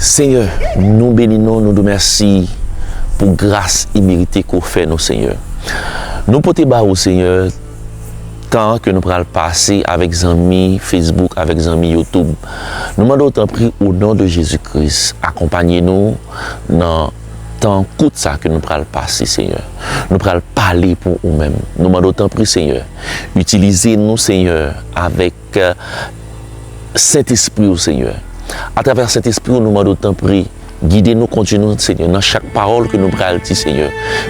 Senyè nou beni non nou di w mèsi pou gras imerite ke w fè nou Senyè. Nou pote ba ou Senyè tan ke nou pral pase avèk zanmi Facebook avèk zanmi YouTube. Nou mande w tanpri o non de Jezi Kris akonpanye nou nan tan kout sa ke nou pral pase Senyè. Nou pral pale pou ou menm. Nou mande w tanpri Senyè itilize nou Senyè avèk Ke sent espri ou senyè atravè sent espri ou nou mande ou tanpri gide nou kondwi nou senyè nan chak pawòl ke nou pral di senyè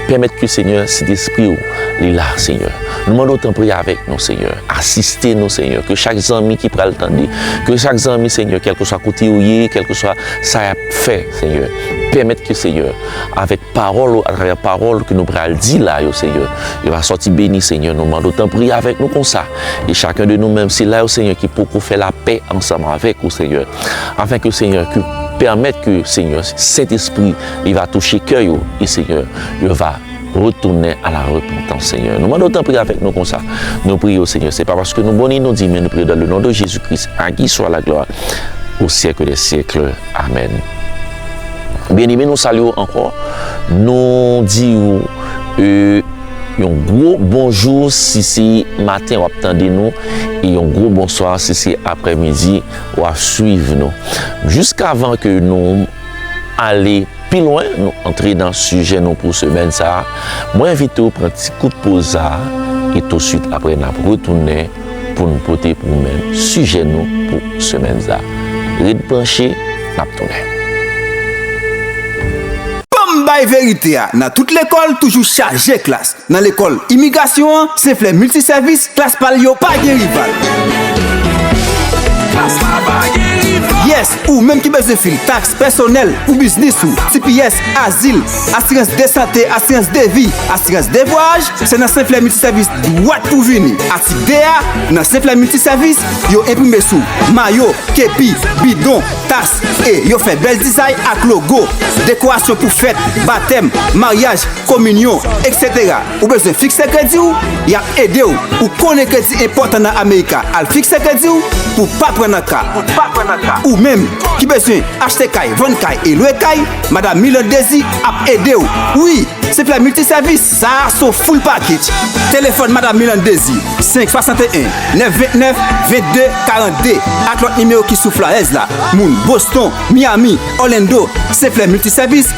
pèmèt ke senyè sent espri ou li la senyè nou mande ou tanpri avèk nou senyè asiste nou senyè ke chak zanmi ki pral tande ke chak zanmi senyè kèlkeswa kote yo ye kèlkeswa sa yap fè senyè pèmèt ke senyè avèk pawòl ou atravè pawòl ke nou pral di la yo senyè yo va sòti beni senyè nou mande ou tanpri avèk nou konsa. E chacun de nou menm sila yo Seigneur ki poko fè la pè ansanm avèk ou Seigneur afin ke Seigneur ke pèmèt ke Seigneur Saint Esprit li va touche kè yo e Seigneur yo va retounen a la repantans Seigneur nou mande w tanpri avèk nou konsa nou priye w Seigneur se pa paske nou bon ni nou diy men nou priye w dan le non de Jezi Kris a ki swa la glwa o syèk dè syèk amèn Byeneme nou salye w ankò nou di w e. Yon gwo bonjou si se maten wap tande nou e yon gwo bonswa si se aprè midi wap swiv nou. Jisk avan ke nou ale pi lwen, nou antre nan sijè nou pou semèn sa, mwen envite w pran ti kout poz sa e touswit aprè nap retounen pou n pote pou ou menm sijè nou pou semèn sa. Ret branche, n ap tounen. Banm bay verite a nan tout lekòl toujou chaje klas nan lekòl imigrasyon an se flè milti sèvis klas pal yo pa gen rival. Yes Ou menm ki bezwen fil taks pèsonèl pou biznis ou, tps, azil, asirans de sante, asirans de vi, asirans de vwayaj, se nan Senflè Miltisèvis dwat pou vini. Atik 2 a, Nan Senflè Miltisèvis, yo enprime sou mayo, kepi, bidon, tas e yo fè bèl dizay ak logo, dekorasyon pou fèt, batèm, maryaj, kominyon, etc. Ou bezwen fikse kredi w? Y ap ede w pou konnen kredi enpòtan nan Amerika al fikse kredi w pou w pa pran nan ka. Ou menm ki bezwen achte kay, vann kay e lwe kay, Madam Milande Désir ap ede w. Wi, se plè miltisèvis, sa a se yon full package. Telefòn Madam Milande Désir, 5 61 929 22 42 ak lòt nimewo ki sou flayèz la. Moun Boston, Miami, Orlando, se plè miltisèvis.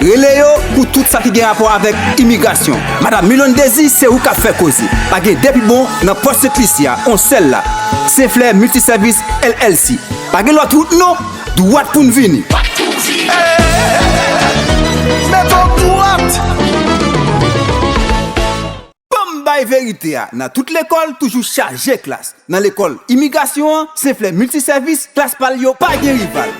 Rele yo pou tout sa ki gen rapò avèk imigrasyon. Madam Milone Dezi se ou kap fè koze. Pa gen 2 pi bon nan pòs sektrisyè a, on sèl la. Senflè Multi Service LLC. Pa gen lòt wout non, dwat pou n vini. Met on dwat! Banm bay verite a nan tout lekòl toujou chaje klas nan lekòl imigasyon an se flè milti sèvis klas pal yo pa gen rival.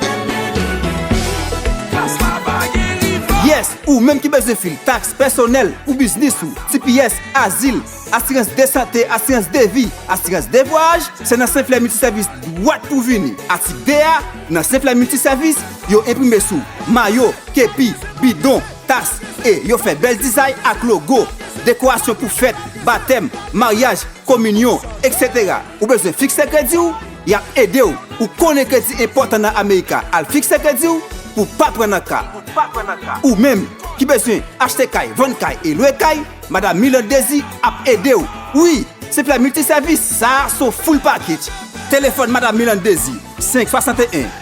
Yes ou menm ki bezwen fil taks pèsonèl pou biznis ou tps azil asirans de sante asirans de vi asirans de vwayaj se nan senflè milti sèvis dwat pou vini atik 2 a nan senflè milti sèvis yo enprime sou mayo kepi bidon Tas e yo fè bèl dizay ak logo, dekorasyon pou fèt, batèm, maryaj, kominyon, etc. Ou bezwen fikse kredi w? Y ap ede w. Ou konnen kredi enpòtan nan Amerika, al fikse kredi w pou w pa pran nan ka. Ou menm ki bezwen achte kay, vann kay e lwe kay, Madam Milande Désir ap ede w. Wi, se plè milti sèvis, sa a son full package. Telefòn Madam Milande Désir, 5 61.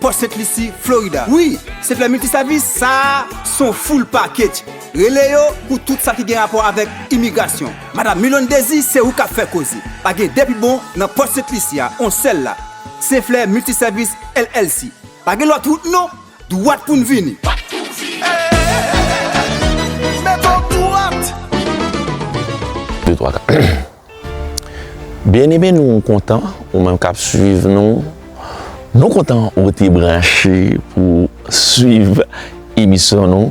Port Saint Lucie, Florida. Wi, se flè miltisavis sa a se yon full package. Rele yo pou tout sa ki gen rapò avèk imigrasyon. Madam Milonne Désir, se ou k ap fè koze. Pa gen de pi bon nan Port Saint Lucie a, on sèl la. Saint Flè Multiservice LLC. Pa gen lòt wout non, dwat pou n vini. Met on dwat! Byeneme nou kontan ou menm kap swiv nou, nou kontan ou rete branche pou swiv emisyon nou,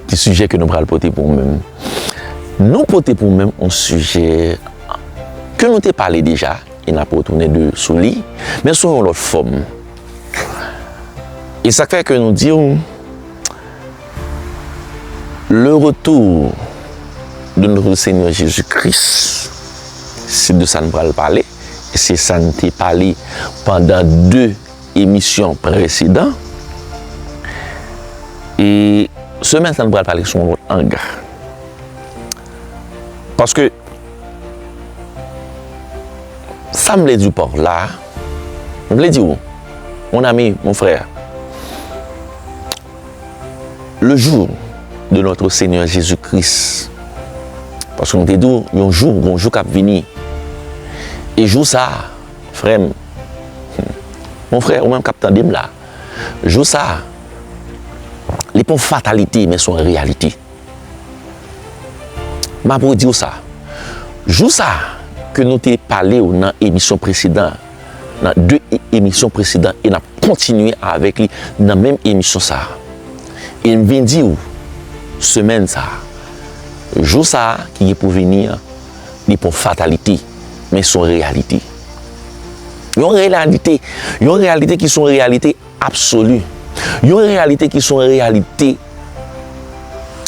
ki sijè ke nou pral pote pou ou menm. Nou pote pou ou menm yon sijè ke nou te pale deja e nap retounen de sou li, men sou yon lòt fòm. E sak fè ke nou diw. Le retour de notre seigneur Jesus Christ se de sa n pral pale e se sa n te pale pandan 2 emisyon presedan e semèn sa n pral pale sou yon lòt ang paske sa m vle di w par la m vle di w mon ami, mon frère Le jour de notre Seigneur Jesus Christ. Paske m te di w, yon jou, gon jou k ap vini. E jou sa a, frè m, mon frè, ou menm k ap tande m la, jou sa a, li pa yon fatalite, men se yon reyalite. M ap redi w sa, jou sa a ke nou te pale w nan emisyon presedan an, Nan 2 emisyon presedan e nap kontinye avèk li nan menm emisyon sa. E m vin di ou, semèn sa, jou sa ki gen pou vini an, li pa yon fatalite, men se yon reyalite. Yon reyalite, yon reyalite ki se yon reyalite absoli. Yon reyalite ki se yon reyalite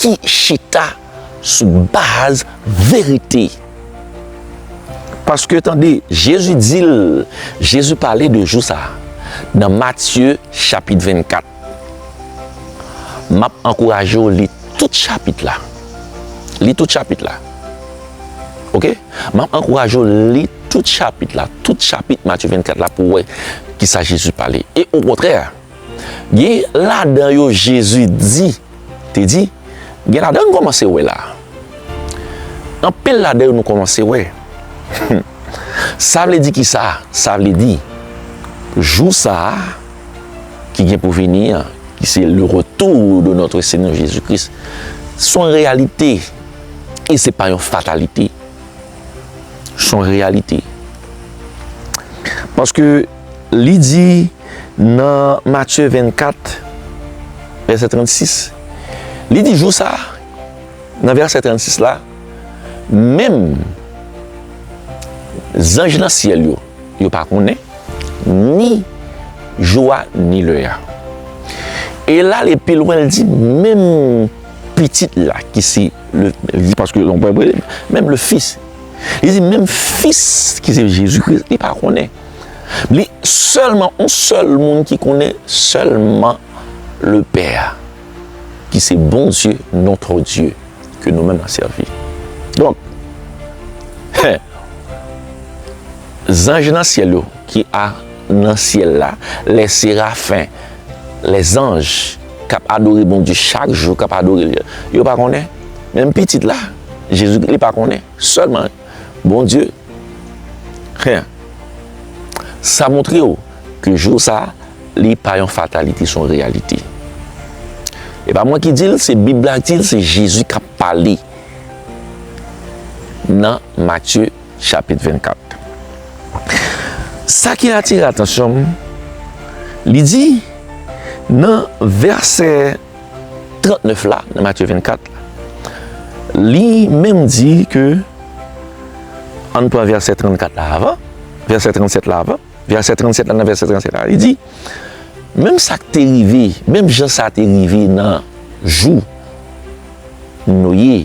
ki chita. sou baz verite. Paske tande, Jezi di l, Jezi pale de jou sa a nan Matye chapit 24. M ap ankouraje w li tout chapit la. Li tout chapit la. Ok? M ap ankouraje w li tout chapit la, tout chapit Matye 24 la pou w wè ki sa Jezi pale. E okontrè! Gen ladan yo Jezi di, te di, gen ladan nou kòmanse wè la. Anpil ladan yo nou kòmanse wè. Sa vle di ki sa? Sa vle di, jou sa a ki gen pou vini an, ki se le retour de notre Seigneur Jésus Christ, s on reyalite e se pa yon fatalite. S on reyalite. Paske. Li di nan Matye 24, vèsè 36, li di, Jou sa a, nan vèsè 36 la, menm zanj nan syèl yo, yo pa konnen ni jou a ni lè a. E l ale pi lwen, li di, Menm Pitit la, ki se, li di paske menm le Fis, li di menm Fis ki se Jezikri, li pa konnen. Li sèlman on sèl moun ki konnen sèlman le pè a ki se Bondye notre Dye ke nou menm nan sèvi. Donk zanj nan syèl yo ki a nan syèl la, lè serafen, lè zanj kap adore Bondye chak jou kap adore li yo pa konnen menm pitit la Jezi li pa konnen sèlman Bondye. Hen. Sa montre w ke jou sa a li pa yon fatalite, se yon reyalite. E pa mwen ki di l, se Bib la ki di l, se Jezi k ap pale nan Matye chapit 24. Sa ki atire atansyon m, li di nan vèsè. 39 la, nan Matye 24 la, li menm di ke, an n pran vèsè 34 la avan, vèsè 37 la avan, vèsè 37 la nan vèsè 37 la, li di, menm sa k te rive, menm jan sa te rive nan jou Noye,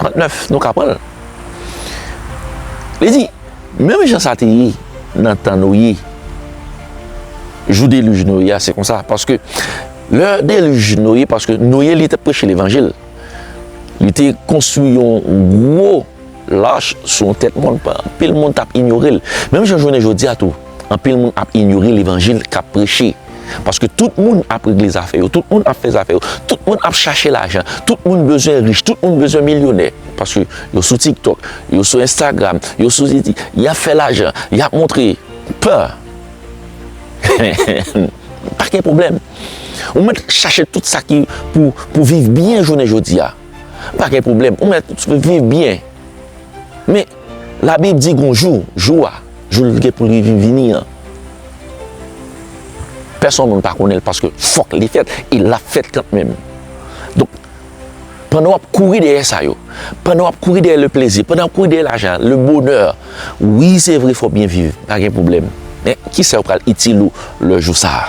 39, nou ka pran l. Li di, Menm jan sa te ye nan tan Noye, jou delij Noye a, se konsa. Paske, lè delij Noye, paske Noye li te preche levanjil, li te konstwi yon gwo lach sou yon tèt mòn, anpil moun t ap inyore l. Menm jan jounen jodi a tou, anpil moun ap inyore levanjil k ap preche. Paske tout moun ap regle zafè yo, tout moun ap fè zafè yo, tout moun ap chache lajan, tout moun bezwen rich, tout moun bezwen milyonè. Paske yo sou TikTok, yo sou Instagram, yo sou Ziti, y ap fè lajan, y ap montre. Pè! Pa gen pwoblèm. Ou mèt chache tout sa ki pou viv byen jounen jodi a. Pa gen pwoblèm. Ou mèt viv byen. Men. Labib di gon jou, jou a, jou l gen pou l rive vini an, pèsonn moun pa konnen l paske fòk li fèt e l ap fèt kantmenm. Donk, pandan w ap kouri dèyè sa yo, pandan w ap kouri dèyè leplezi, pandan w ap kouri dèyè lajan, lebonè, wi se vre fò w byen viv, pa gen pwoblèm, men ki sa yo pral itil ou lè jou sa a?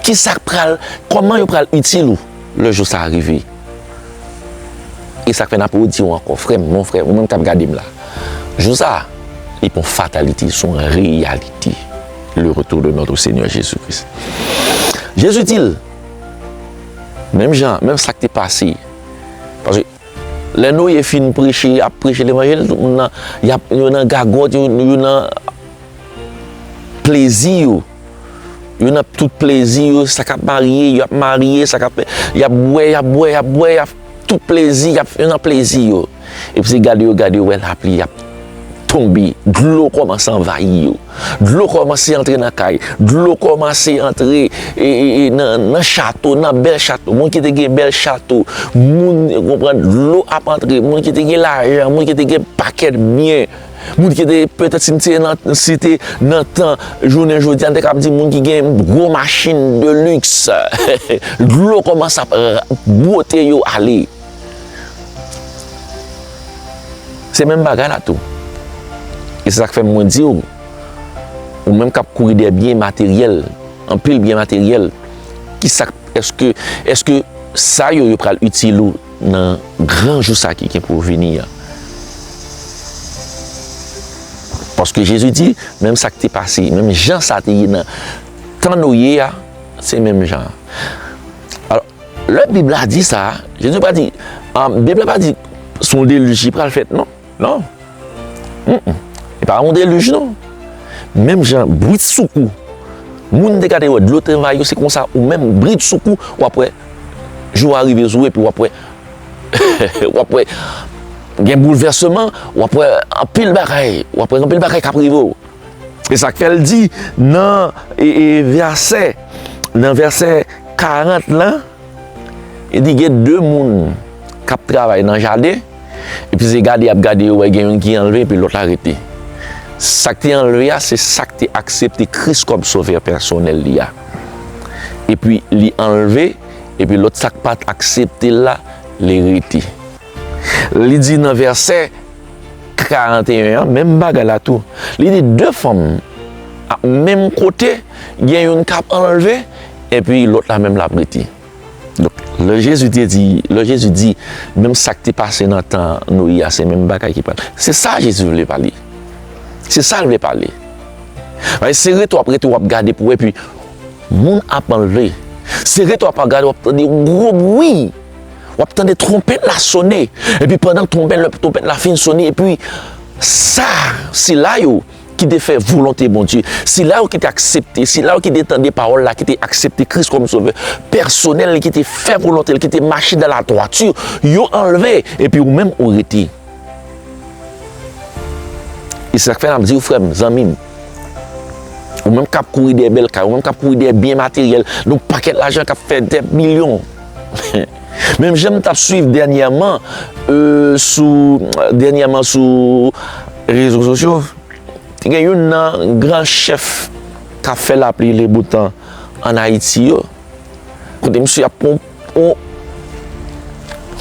Ki sa k pral, kòman yo pral itil ou? Le jou sa rive. E sak fè nap rediw ankò frèm, mon frè, ou menm kap gadem la. Jou sa, li pa yon fatalite, son reyalite. Le retour de notre Seigneur Jesus Christ. Jezi dil, menm jan, menm sak te pase, paske lè Noye fin preche, ap preche levanjil, tout moun nan, yo nan gagòt, yo nan plezi yo. Yo nan tout plezi yo, sa kap marye, yo ap marye, sa kap fè, y ap bwè, y ap bwè, y ap bwè, y ap tout plezi, y ap yo nan plezi yo. Epi se gade yo gade yo wè lapli ap tonbe, dlo kòmanse anvayi yo, dlo kòmanse antre nan kay, dlo kòmanse antre nan chato, nan bèl chato, moun ki te gen bèl chato, moun, ou konprann, dlo ap antre, moun ki te gen lajan, moun ki te gen pakèt byen. Moun ki te, petèt si m te nan, si te nan tan jounen jodi a, m te kab di moun ki gen gwo machin de liks, dlo kòmanse ap bwote yo ale. Se menm bagay la tou. E se sa k fè mwen di ou, ou menm k ap kouri dèyè byen materyèl, anpil byen materyèl, ki sa k, èske, èske sa yo yo pral itil ou? Nan gran jou sa ki gen pou vini an. Paske Jezi di, menm sa ki te pase, menm jan sa te ye nan tan Noye a, se menm jan an. Alò, lè Bib la di sa, Jezi pa di, Bib la pa di se yon delij ki pral fèt non. Non. Humm. E pa yon deluj non. Menm jan bridsoukou moun te gade wè dlo te anvayi yo se konsa ou menm bridsoukou w ap wè jou a rive sou ou epi w ap wè w ap wè gen boulvèseman, w ap wè anpil bagay, w ap wè gen anpil bagay k ap rive w. E sa k fè l di nan vèsè nan vèsè 40 lan, li di gen de moun k ap travay nan jaden. Epi se gade yap gade yo wè gen youn ki anlve epi lòt la rete. Sak te anlve a se sak te aksepte Kris kòm sovè pèsonèl li a. Epi li anlve epi lòt sak pat aksepte l la li rete. Li di nan vèsè 41 an menm bagay la tou. Li di 2 fanm ap menm kote gen youn kap anlve epi lòt la menm lap rete. Donk, lè Jezi te di, lè Jezi di, menm sa k te pase nan tan Noye a, se menm bagay ki pral. Se sa Jezi vle pale. Se sa l vle pale. Paske se rete w ap rete w ap gade pou wè, epi moun ap anlve. Se rete w ap gade, w ap tande yon gwo bwi, w ap tande twonpèt la sone, epi pandan twonpèt la fin sone, epi sa, sila yo, ki te fè volonte Bondye, sila yo ki te aksepte, sila yo ki te tande pawòl la, ki te aksepte Kris kòm sovè pèsonèl li, ki te fè volonte li, ki te mache nan ladwati, yo anlve, epi ou menm ou rete. E se sa k fè n ap di w frè m, zanmi m, ou menm k ap kouri dèyè bèl kay, ou menm k ap kouri dèyè byen materyèl, nou pakèt lajan k ap fè dèyè milyon, Menm jan m tap swiv dènyèman sou dènyèman sou rezo sosyo te gen youn nan gran chèf kap fè lapli le boutan an Ayiti yo kote misye ap pran yon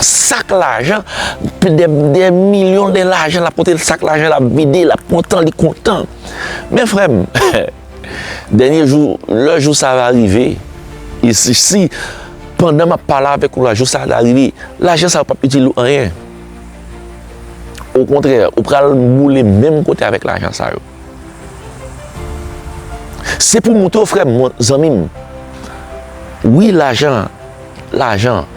sak lajan pi de 2 milyon de lajan lap pote sak lajan lap vide lap kontan li kontan men frè m. Dènye jou, lè jou sa a va rive, e si, si, pandan m ap pale avèk ou la, jou sa a ta rive, lajan sa a pap itil ou anyen. Okontrè, ou pral boule menm kote avèk lajan sa yo. Se pou m montre w, frè m, zanmi m, wi, lajan, lajan,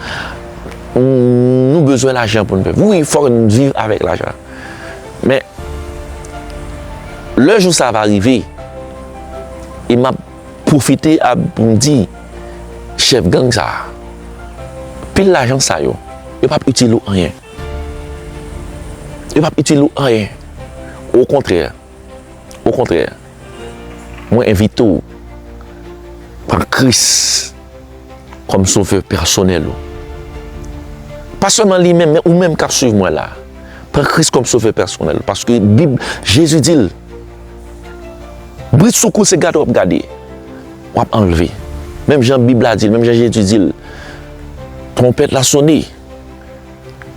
nou bezwen lajan pou nou viv. Wi, fòk nou viv avèk lajan. Men, lè jou sa va rive, e m ap pwofite ap pou m di chèf gang sa a, pil lajan sa yo, yo p ap itil ou anyen. Yo p ap itil ou anyen. Okontrè. Okontrè, mwen envite w pran Kris kòm Sovè pèsonèl ou. Pa sèlman li menm, men ou menm k ap suiv mwen la a. Pran Kris kòm Sovè pèsonèl ou, paske Bib, Jezi di l, Bridsoukou se gade w ap gade, w ap anlve. Menm jan Bib la di l, menm jan Jezi di l, Twonpèt la sone.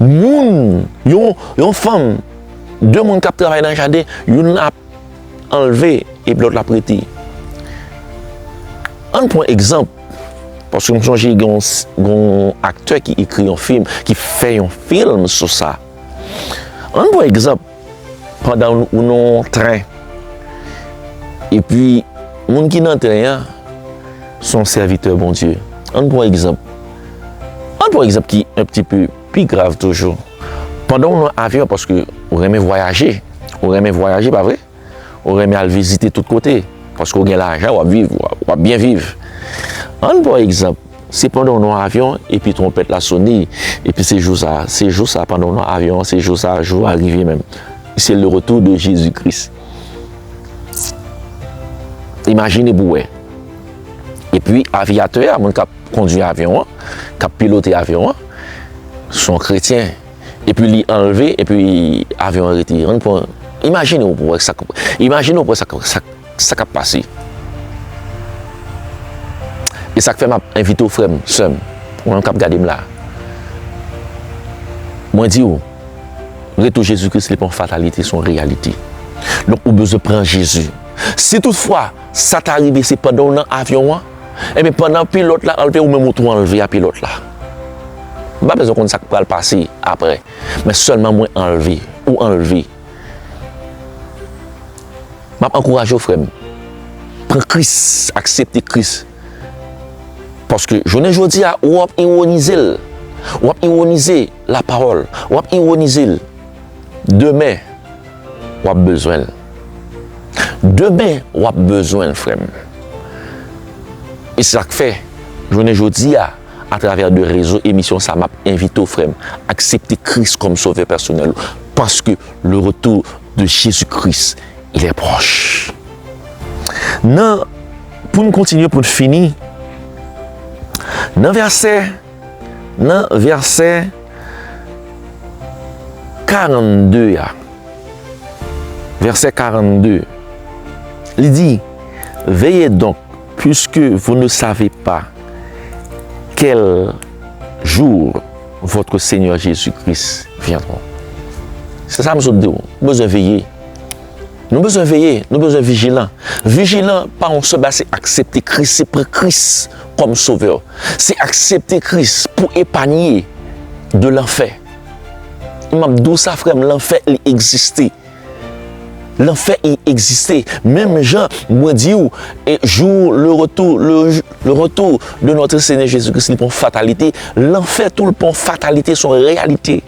Moun, yon fanm, de moun k ap travay nan jaden, youn ap anleve epi lòt la ap rete. Ann pran egzanp, paske m sonje gen yon aktè ki ekri yon fim, ki fè yon fim sou sa. Ann pran egzanp. pandan ou nan yon tren, epi moun ki nan tren an se yon sèvitè Bondye. Ann pran egzanp, ann pran egzanp ki yon ti pe pi grav toujou. Pandan ou nan avyon, paske ou renmen vwayaje, ou renmen vwayaje, pa vre? Ou renmen al vizite tout kote, paske ou gen lajan, w ap viv, w ap byen viv. Ann pran egzanp, Se pandan w nan avyon epi twonpèt la sone, epi se jou sa a, se jou sa a pandan w nan avyon an, se jou sa a, jou a rive menm. Se le retou de Jezi Kris. Imajine pou w wè. Epi aviyatè a, moun k ap kondwi avyon an, k ap pilote avyon an, se yon kretyen. Epi li anlve, epi avyon an rete. An pwen, imajine ou pou wè sa, imajine ou pou wè sa, sa, sa kap pase. E sak fè map envite ou frèm, sèm, ou menm kap gade m la. Mwen di ou, retou Jezi Kris li pa yon fatalite, son reyalite. Donk ou bezwen pran Jezi. Si tout fwa sa ta rive se pandan ou nan avyon an. Ebyen pandan pilòt la anlve ou menm ou tou anlve a pilòt la. M pa bezwen konn sak pral pase aprè men sèlman mwen anlve ou anlve. Map ankouraje w frèm pran kris aksepte kris paske jounen jodia ou ap ironize l wap ironize la pawòl wap ironize l demen. wap bezwen l. Demen wap bezwen l frè m. E se sa k fè jounen jodi a atravè de rezo emisyon sa map envite w frè m aksepte Kris kòm sovè pèsonèl ou paske le retou de Jezi Kris il est proche. Nan pou n kontinye pou n fini nan vèsè. Nan vèsè 42 a, vèsè 42, li di, Veye donk, puiske vou ne save pa kèl jour vòtre Senyè Jezi Kris vyendrò. Se sa m sot di w, nou bezwen veye. Nou bezwen veye, nou bezwen vijilan. Vijilan pa yon sèl bagay, se aksepte Kris, se pran Kris. kòm sovè, se aksepte Kris pou epanye de lanfè. M ap di w sa frè m, lanfè li egziste. Lanfè li egziste. Menm jan mwen di w e jou le retou, le retou de notre Seigneur Jesus Christ li pa yon fatalite, lanfè tou li pa yon fatalite, se yon reyalite.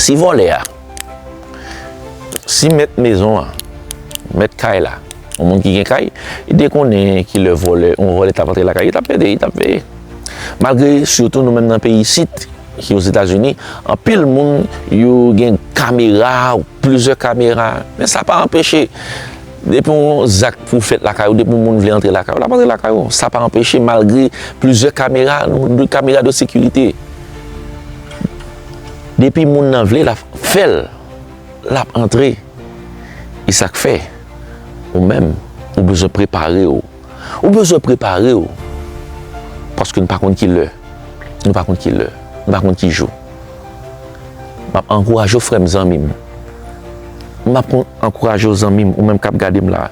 Si vòlè a, si mèt mezon an, mèt kay la, yon moun ki gen kay, li te konnen ki lè vòlè, yon vòlè tap antre lakay, li tap pede, li tap veye. Malgre, sitou nou menm nan peyi isit, ki Ozetazini, anpil moun yo gen kamera, ou plizyè kamera, men sa pa anpeche, depi yon zak pou fèt lakay ou, depi yon moun vle antre lakay ou, lap antre lakay ou, sa pa anpeche malgre plizyè kamera, kamera de sekirite. Depi moun nan vle la fèl lap antre e sak fè ou menm ou bezwen prepare ou ou bezwen prepare ou paske nou pa konn ki lè nou pa konn ki lè nou pa konn ki jou map ankouraje ou frèm zanmim map ankouraje ou zanmim ou menm kap gadem la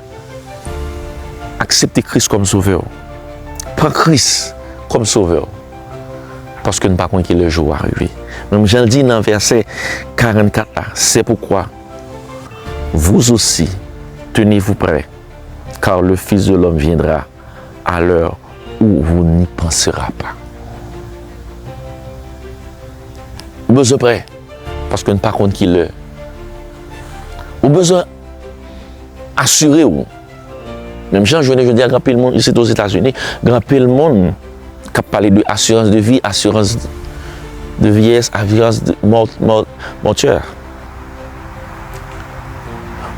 aksepte kris kòm sovè ou pran kris kòm sovè ou. paske nou pa konn ki lè jou a rive. Menm jan l di nan vèsè 44 la, Se poukwa, Vous osi, tenez-vous près, car le Fils de l'homme viendra à l'heure où vous n'y pensera pas. Ou bezwen prè, paske nou pa konn ki lè. Ou bezwen asire ou. Menm jan jounen jodi a gen anpil moun isit Ozetazini, gen anpil moun k ap pale de asirans de vi, asirans de vyeyès, asirans de mòtè.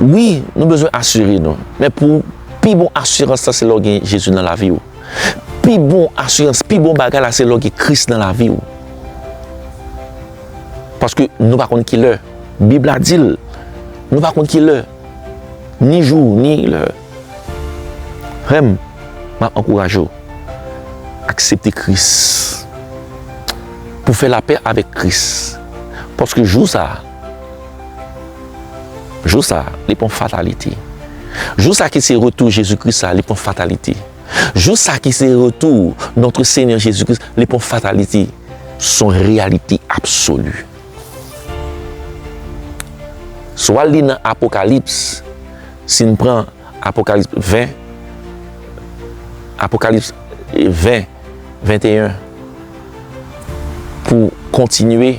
Wi, nou bezwen asire nou, men pou pi bon asirans la se lè w gen Jezi nan lavi w. Pi bon asirans, pi bon bagay la se lè w gen Kris nan lavi w. Paske nou pa konn ki lè. Bib la di l, nou pa konn ki lè. ni jou ni lè. Frè m, m ap ankouraje w aksepte Kris pou w fè lapè avèk Kris, paske jou sa a, jou sa a, li pon fatalite. Jou sa a ki se retou Jezi Kris la, li pon fatalite. Jou sa a ki se retou Notre Seigneur Jésus-Christ, li pon fatalite. Son reyalite absoli. Swa li nan Apokalips, si n pran Apokalips 20, Apokalips 20, 21, pou kontinye,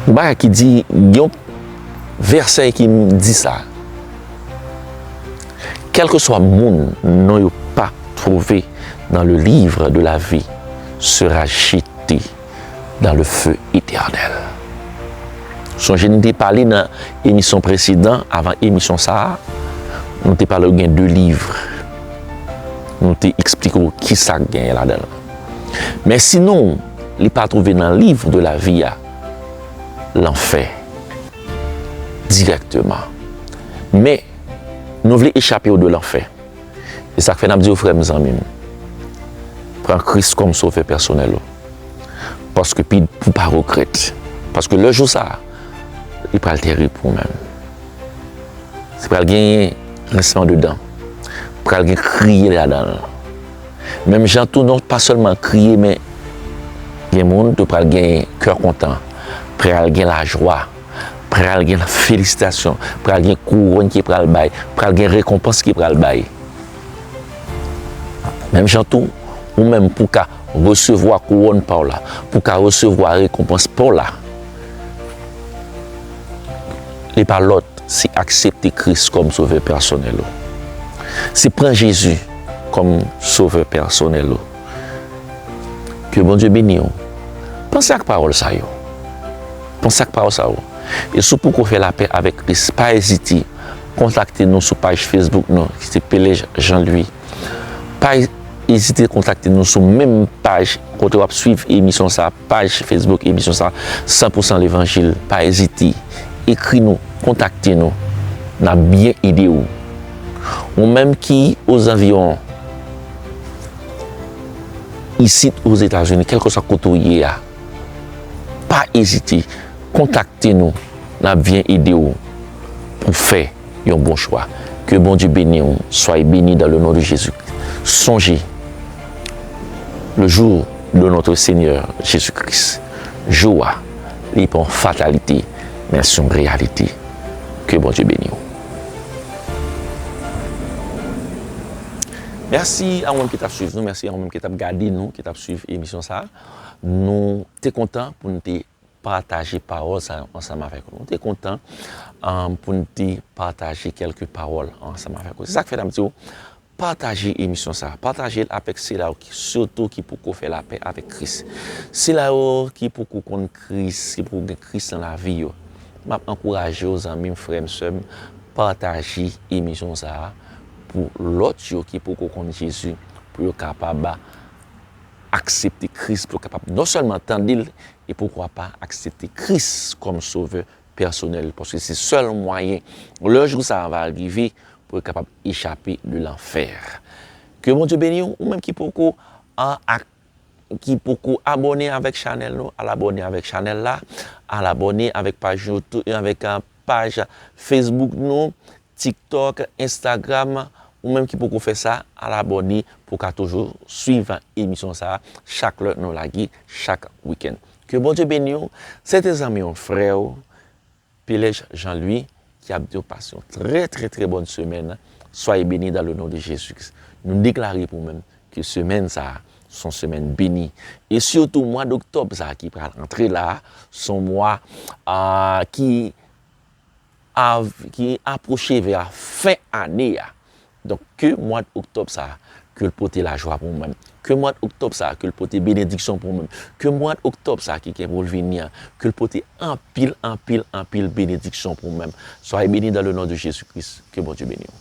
yon bagay ki di, yon vèsè ki di sa. Kèlkeswa moun non yo pa twouve nan le livre de la vie sera jete dans le feu éternel. Sonje n te pale nan emisyon presedan avan emisyon sa a, nou te pale w gen de livre, nou te eksplike w ki sa k genyen ladan l. Men si non w li pa twouve nan livre de la vie a, lanfè dirèkteman. Men. Nou vle echape odo lanfè. Se sa k fè n ap di w frè m, zanmi m, pran Kris kòm Sovè pèsonèl ou, paske pi pou w pa regrèt, paske lè jou sa a, li pral terib pou ou menm. Se pral genyen grinsman de dan, pral gen kriye ladan l. Menm jan tou non pa sèlman kriye men gen moun tou pral gen kè kontan, pral gen lajwa. pral gen felisitasyon, pral gen kouwòn ki pral bay, pral gen rekonpans ki pral bay. Menm jan tou, ou menm pou ka resevwa kouwòn pa w la, pou ka resevwa rekonpans pa w la, li pa lòt se aksepte Kris kòm sovè pèsonèl ou. Se pran Jezi kòm sovè pèsonèl ou. Ke Bondye beni w. Panse ak pawòl sa yo. Panse ak pawòl sa yo. E si w poko fè lapè avèk Kris, pa ezite kontakte nou sou paj Facebook nou ki se Pelej Jean Louis. Pa ezite kontakte nou sou menm paj kote w ap swiv emisyon sa, paj Facebook emisyon sa, San Pou San Levanjil. Pa ezite ekri nou, kontakte nou. N ap byen ede w. Ou menm ki ozanviwon. isit Ozetazini, kèlkeswa kote ou ye a, pa ezite, kontakte nou, n ap vyen ede ou pou w fè yon bon chwa. Ke Bondye beni ou, soyez beni dan le non de Jezi. Sonje, le jou de notre Senyè Jezi Kris, jou a, li pa yon fatalite, men se yon reyalite. Ke Bondye beni ou. Mèsi a ou menm ki t ap swiv nou, mèsi a ou menm ki t ap gade nou, ki t ap swiv emisyon sa a. Nou te kontan pou nou te pataje pawòl sa yo ansanm avèk ou. Nou te kontan pou nou te pataje kèlke pawòl ansanm avèk ou. Se sa k fè n ap di ou, pataje emisyon sa a, pataje l avèk sila yo sitou ki poko fè lapè avèk Kris. Sila yo ki poko konn Kris, ki poko gen Kris nan lavi yo. M ap ankouraje ou zanmi m, frè m, sè m, pataje emisyon sa a. pou lòt yo ki poko konn Jezi, pou yo kapab aksepte Kris, pou yo kapab non sèlman tande l, e poukwa pa aksepte Kris kòm sovè pèsonèl, paske se sèl mwayen lè jou sa a va rive pou yo kapab echape de lanfè. Ke Bondye beni w, ou menm ki poko. ki poko abòne avèk chanèl nou al abòne avèk chanèl la al abòne avèk paj youtube avèk paj facebook nou tiktok instagram ou menm ki poko fè sa al abòne pou ka toujou swiv emisyon sa chak lè nou lage chak weekend ke bondye beniw se te zanmiw frèw. Pelèj Jean Louis ki ap diw pas yon trè trè trè bòn semèn soyez beni dan le non de Jezi Kris nou deklare pou mwen ke semèn sa son semèn beni e sitou mwa doktòb sa ki pral antre la son mwa ki av ki aproche vè a fen ane a Donk ke mwad oktòb sa a ke l pote lajwa pou mwen, ke mwad oktòb sa a ke l pote benediksyon pou mwen, ke mwad oktòb sa a ki gen pou l vini an ke l pote anpil anpil anpil benediksyon pou mwen. Soyez beni dan le non de Jezi Kris, ke Bondye beni w.